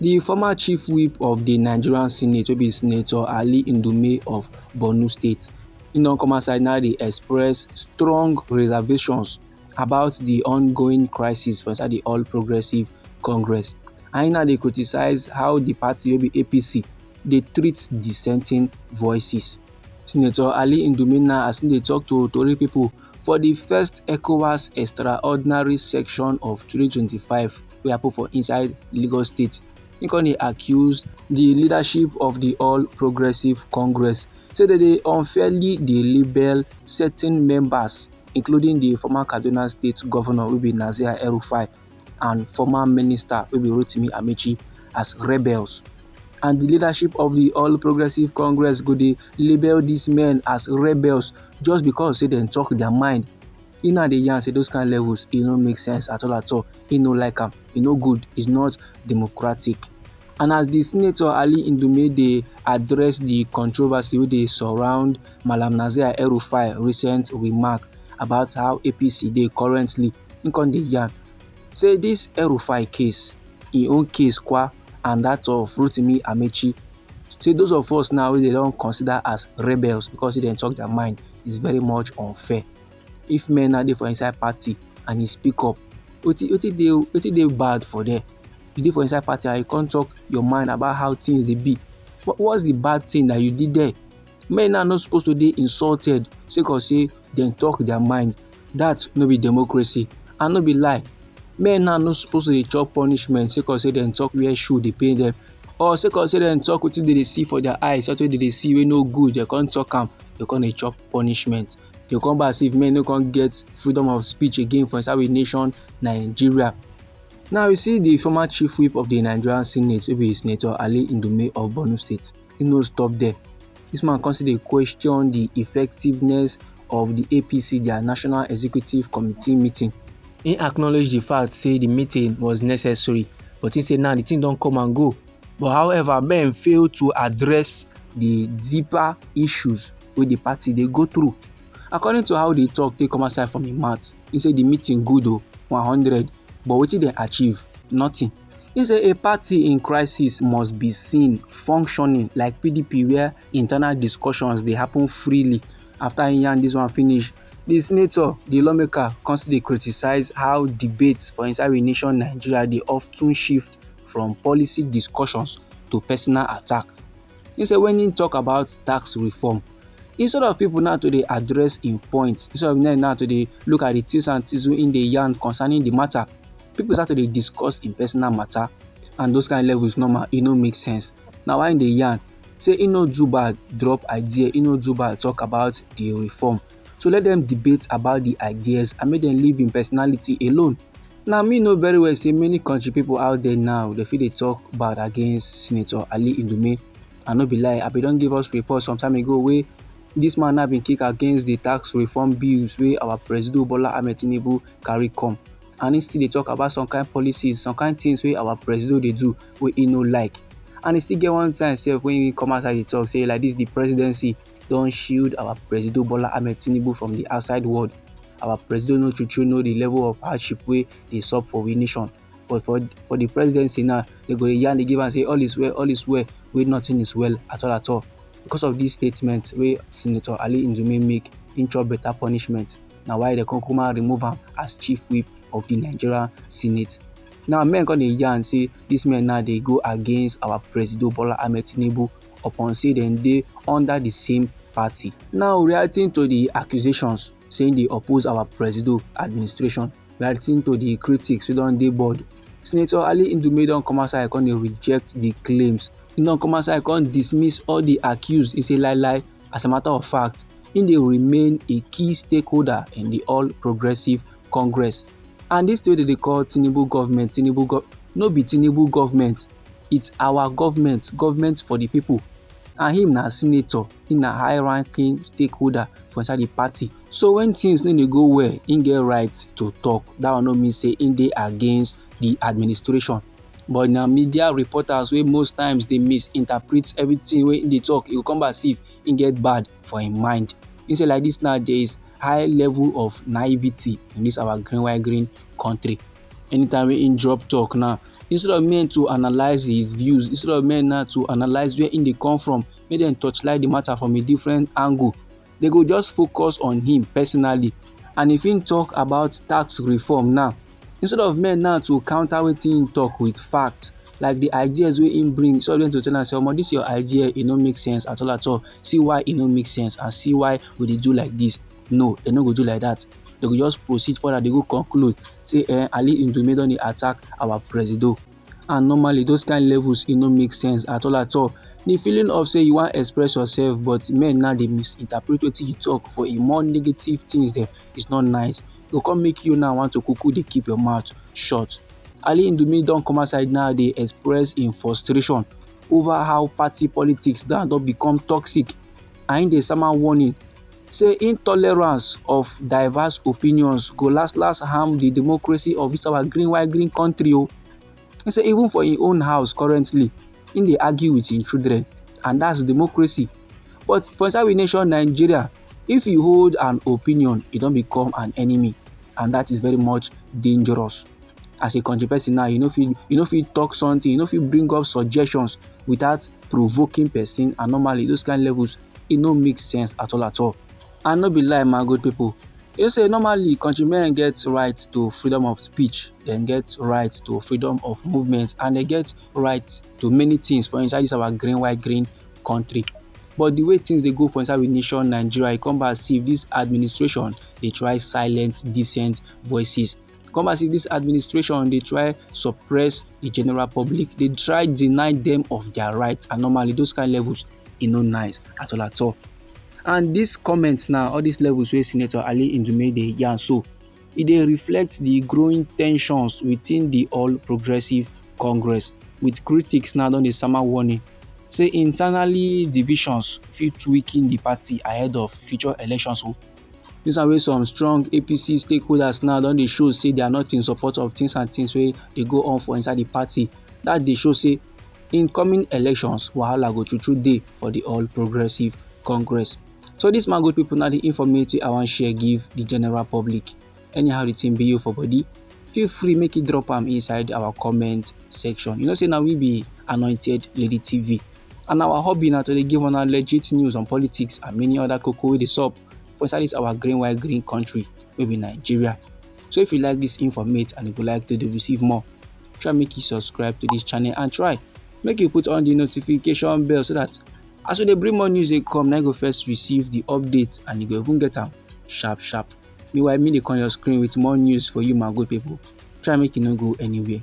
di former chief whip of di nigerian senate wey be senator ali ndume of borno state im don come outside now dey express strong reservations about di ongoing crisis for inside di all progressives congress and im now dey criticise how di party wey be apc dey treat dissenting voices senator ali ndume now as im dey tok to tori pipo for di first ecowas extraordinary session of 2025 wey happen for inside Lagos State. He come dey accuse the leadership of the All Progressive Congress say they dey unfairly dey label certain members including the former Kaduna State Governor wey be Nasir El-Rufai and former minister wey be Rotimi Amechi as rebels. And the leadership of the All Progressive Congress go dey label these men as rebels just because say dem talk their mind e now dey yarn say those kind levels e no make sense at all at all e no like am e no good it's not democratic and as di senator ali ndume dey address di controversy wey dey surround malam nazir el-rufai recent remark about how apc dey currently im come dey yarn say dis el-rufai case im own case kwa and that of rotimi amechi say those of us now wey dey don consider as rebels because say dem talk their mind is very much unfair if men now dey for inside party and he speak up wetin wetin dey wetin dey bad for there you dey for inside party and you come talk your mind about how things dey be what what's the bad thing that you did there men now no suppose to dey insulted sake of say dem talk their mind that no be democracy and no be lie men now no suppose to dey chop punishment sake of say dem talk where shoe dey pain them or sake of say dem talk wetin dem dey see for their eyes something wey dem dey see wey no good dem come talk am dem come dey chop punishment. dey come back say if men no come get freedom of speech again for inside we nation nigeria now you see the former chief whip of the nigerian senate wey be senator ali ndume of borno state he no stop there this man come still dey question the effectiveness of the apc their national executive committee meeting he acknowledge the fact say the meeting was necessary but he say now the thing don come and go But however, men fail to address the deeper issues wey the party dey go through. According to how the talk take come outside from im mouth, he say the meeting good o, 100, but wetin dem achieve? Nothing. He say a party in crisis must be seen functioning like PDP where internal discussions dey happen freely. After he yarn this one finish, the senator, the lawmaker come still dey criticize how debates for inside we nation Nigeria dey often shift from policy discussions to personal attack. He said when he talk about tax reform, instead of people now to dey address im point instead of them now to dey look at the things and things wey im dey yarn concerning the matter people start to dey discuss im personal matter and those kind levels normal e no make sense na why im dey yarn say e no do bad drop idea e no do bad talk about the reform So let them debate about the ideas and make them leave im personality alone. Now me know very well say many country people out there now they feel they talk bad against Senator Ali Indume. I no be lie, I be don give us report some time ago wey this man now been kick against the tax reform bills wey our president Bola Ahmed Tinubu carry come. And he still dey talk about some kind policies, some kind things wey our president dey do wey he no like. And he still get one time sef when he come outside dey talk say like this the presidency don shield our presido bola ahmed tinubu from di outside world our presido no true true know di level of hardship wey dey sup for we nation but for for di presidency now dem go dey yarn dey give am say all is well all is well wey nothing is well at all at all because of dis statement wey senator ali ndume make im chop better punishment na why dem come kuma remove am as chief whip of di nigeria senate now men come dey yarn say dis men now dey go against our presido bola ahmed tinubu upon say dem dey under di same party. Now reacting to di accusations say im dey oppose our presido administration, reacting to di critics wey don dey board, Senator Ali Ndume don come outside come dey reject di claims. Im don come outside come dismiss all di accuse, e say lai lai, as a matter of fact, im dey remain a key stakeholder in di All Progressives Congress. And dis thing wey dem dey call Tinubu government, Tinubu government, no be Tinubu government, it's our government government for the people and him na senator him na high ranking stakeholder for inside the party so when things no dey go well him get right to talk that one no mean say him dey against the administration but na media reporters wey most times dey misinterpret everything wey him dey talk e go come back see if him get bad for him mind him say like this now there is high level of naivety in this our green white green country Anytime wey him drop talk now, instead of men to analyse his views, instead of men now to analyse where him dey come from, make dem torchlight the matter from a different angle, they go just focus on him personally. And if him talk about tax reform now, instead of men now to counter wetin him talk with fact, like the ideas wey him bring, instead of them to tell am say, omo, this your idea, e no make sense at all at all. See why e no make sense and see why we dey do like this. No, dem no go do like that. Dem go just proceed further, they go conclude say eh, Ali Ndume don dey attack our presido. And normally those kind levels e no make sense at all at all. The feeling of say you wan express yourself but men now dey misinterpret wetin you talk for a more negative things dem is not nice. E go come make you now want to kuku dey keep your mouth shut. Ali Ndume don come outside now dey express im frustration over how party politics now don become toxic and im dey sama warning say intolerance of diverse opinions go last last harm di democracy of dis our green white green country o e say even for im own house currently im dey argue with im children and that's democracy but for inside we nation nigeria if you hold an opinion e don become an enemy and that is very much dangerous as a country person now you no fit you no fit talk something you no fit bring up suggestions without provoking person and normally those kind levels e no make sense at all at all and no be lie my good people you say normally countrymen get right to freedom of speech dem get right to freedom of movement and dem get right to many things for inside this our green white green country but the way things dey go for inside we nation nigeria e come back see this administration dey try silence decent voices come as if this administration dey try suppress the general public dey try deny them of their rights and normally those kind levels e no nice at all at all and this comment now all these levels wey senator ali ndume dey yarn so e dey reflect the growing tensions within the all progressive congress with critics now don dey sama warning say internally divisions fit weaken the party ahead of future elections o. Oh. Dis one wey some strong APC stakeholders now don dey show say they are not in support of things and things wey dey go on for inside the party. That dey show say in coming elections, wahala go true true dey for the All Progressive Congress. So this man good people now the informative I wan share give the general public. anyhow the thing be you for body feel free make you drop am inside our comment section you know say na we be anointed lady tv and our hobby na to dey give una legit news on politics and many other koko wey dey sup for inside this our green white green country wey be nigeria so if you like this informate and you go like to dey receive more try make you subscribe to this channel and try make you put on the notification bell so that as we dey bring more news dey come na you go first receive the update and you go even get am sharp sharp meanwhile me dey come your screen with more news for you my good people try make you no go anywhere